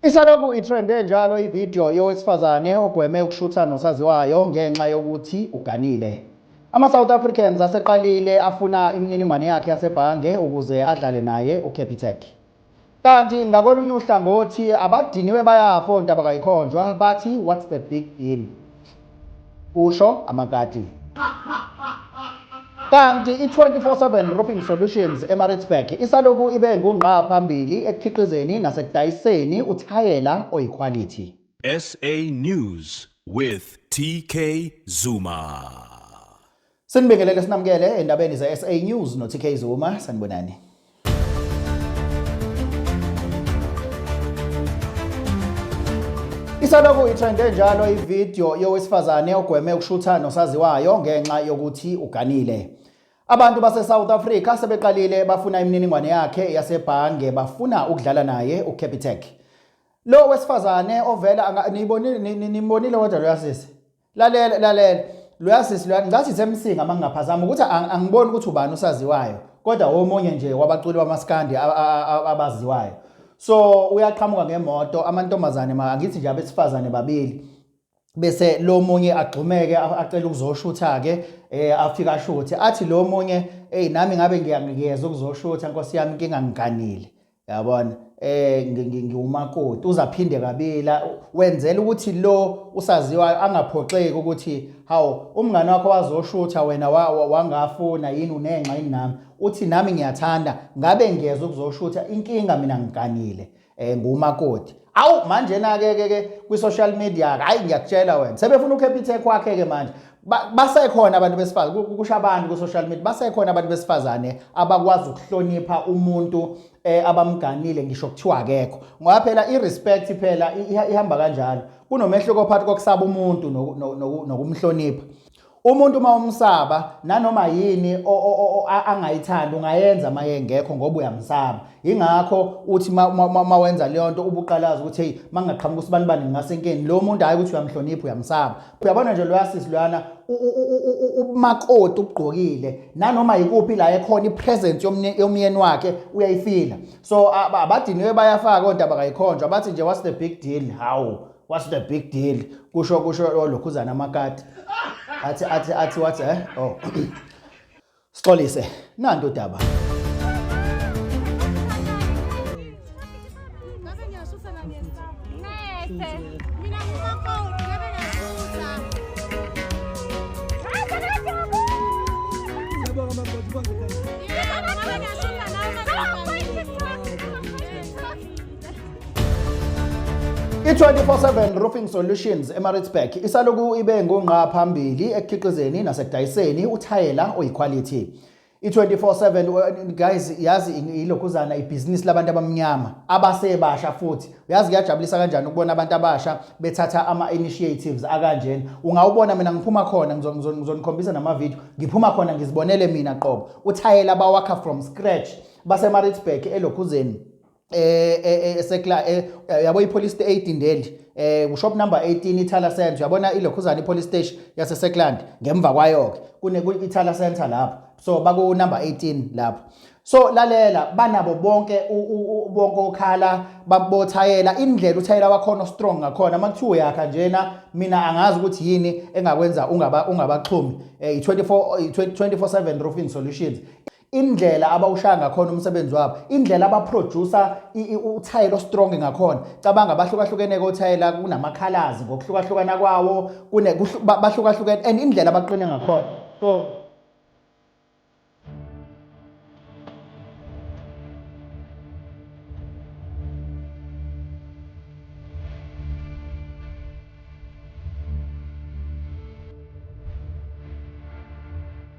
Isalokhu itrende njalo ividiyo yowesifazane ogweme ukushutha nosaziwayo ngenxa yokuthi uganile. AmaSouth Africans aseqalile afuna imininingwane yakhe yasebhange ukuze adlale naye uCapitec. Kanti ngakolunye uhlangothi abadiniwe bayafa ontabakayikhonjwa bathi what's the big deal. kusho amakati. Kanti i-24/7 Roofing Solutions eMaritzburg isalokhu ibe ngungqa phambili ekukhiqizeni nasekudayiseni uthayela oyikhwalithi. SA News with TK Zuma. Sinibingelele sinamukele endabeni ze-SA News no-TK Zuma sanibonani. Isalokhu itrende njalo ivideo yowesifazane ogweme ukushutha nosaziwayo ngenxa yokuthi uganile. Abantu base-South Africa sebeqalile bafuna imininingwane yakhe yasebhange bafuna ukudlala naye uCapitec. Lo wesifazane ovela niyibonile nimbonile kodwa lo yasisi. lalela lalela loya sisi loya ngicathi isemsinga uma ngingaphazama ukuthi angiboni ukuthi ubani usaziwayo kodwa omunye nje wabaculi bamaskandi abaziwayo so uyaqhamuka ngemoto amantombazane angithi nje abesifazane babili bese lo munye agxumeke acela ukuzoshutha ke eh afika ashuthe athi lo munye hey nami ngabe ngiyangiyeza ukuzoshutha nkosi yami inkinga ngiganile yabona eh ngiwumakoti uzaphinde kabila wenzela ukuthi lo usaziwayo angaphoxeki ukuthi hawu umngane wakho wazoshutha wena wangafuna yini unenxa yini nami uthi nami ngiyathanda ngabe ngiyeza ukuzoshutha inkinga mina ngiganile eh ngumakoti awu manjena ke ke ke kwi social media hayi ngiyakutshela wena sebefuna uCapitec kwakhe ke manje basekhona abantu besifazane kusho abantu ku social media basekhona abantu besifazane abakwazi ukuhlonipha umuntu eh, abamganile ngisho kuthiwa akekho ngoba phela i respect phela ihamba kanjalo kunomehluko phakathi kokusaba umuntu nokumhlonipha Umuntu uma umsaba nanoma yini angayithanda ungayenza uma yengekho ngoba uyamsaba. Yingakho uthi uma wenza leyo nto ubuqalaza ukuthi heyi uma ngingaqhamuka usibanibani ngingasenkeni. Lo muntu hhayi ukuthi uyamhlonipha uyamsaba. Uyabona nje loya sisi loyana ubumakoti ubugqokile nanoma yikuphi la ekhona ipresence yomyeni wakhe uyayifila. So abadiniwe bayafaka ontaba kayikhonjwa bathi nje what's the big deal? Hawu. what's the big deal kusho kusho olokhuzana amakati athi athi athi wathi eh oh sixolise nanto udaba I-24/7 Roofing Solutions eMaritzburg isaloku ibe ngongqa phambili ekukhiqizeni nasekudayiseni uthayela oyikhwalithi. I-24/7 guys yazi ilokhuzana ibhizinisi labantu abamnyama abasebasha futhi uyazi kuyajabulisa kanjani ukubona abantu abasha bethatha ama-initiatives akanjena ungawubona mina ngiphuma khona ngizonikhombisa namavidiyo ngiphuma khona ngizibonele mina qobo uthayela bawakha from scratch basemaritzburg elokhuzeni eh, eh, eh esekla eh, yabo ipolice station eidindeli eh kushop number 18 ithala center uyabona ilokhuzana ipolice station yase Sekland ngemva kwayo ke kune ithala center lapho so baku number 18 lapho so lalela banabo bonke bonke okhala babothayela indlela uthayela wakhona strong ngakhona makuthiwa yakha njena mina angazi ukuthi yini engakwenza ungaba ungabaxhumi eh 24 24/7 roofing solutions indlela abawushaya ngakhona umsebenzi wabo indlela abaproducer uthayela ostrong ngakhona cabanga abahlukahlukene kothayela kunamakhalazi ngokuhlukahlukana kwawo bahlukahlukene and indlela abaqine ngakhona so